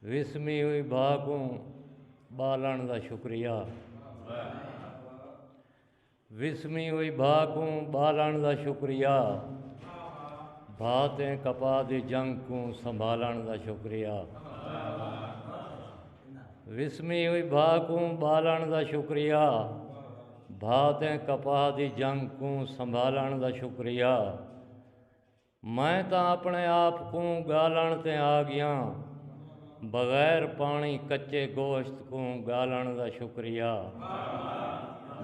وسمی ہوئی بھا کوں ٻالݨ دا شکریہ وسمی ہوئی بھا کوں ٻالݨ دا شکریہ بھا تیں کپا دی جنگ کوں سنبھالݨ دا شکریہ وسمی ہوئی بھا کوں ٻالݨ دا شکریہ بھا تیں کپا دی جنگ کوں سنبھالݨ دا شکریہ میں تاں اپݨے آپ کوں ڳالݨ تے آ ڳیاں۔ بغیر پاݨی کچے گوشت کوں ڳالݨ دا شکریہ۔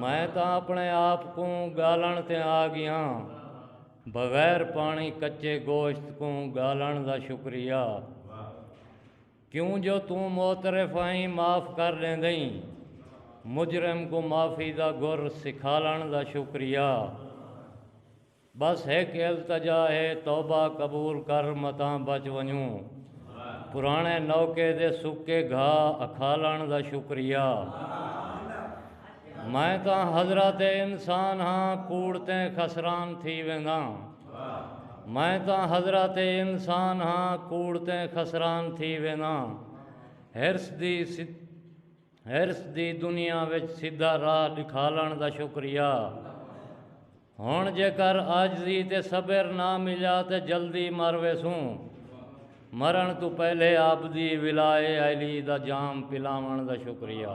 میں تاں اپݨے آپ کوں ڳالݨ تے آ ڳیاں۔ بغیر پاݨی کچے گوشت کوں ڳالݨ دا شکریہ۔ کیوں جو توں معترف آئیں معاف کر ݙیندئیں۔ مجرم کوں معافی دا گر سکھالݨ دا شکریہ۔ بس ہک التجا ہے توبہ قبول کر متاں بچ ونجوں پرانے نوکے دے سکے گھا اکھالن دا شکریہ میں تاں حضرات انسان ہاں کوڑ تیں خسران تھی وینداں میں تاں حضرات انسان ہاں کوڑ تیں خسران تھی وینداں حرص دی ہرس دی دنیا وچ سدھا راہ ڈکھالن دا شکریہ ہن جیکر عاجزی تے صبر نہ ملیا تے جلدی مر ویسوں مرن توں پہلے آپدی ولائے علی دا جام پلاون دا شکریہ۔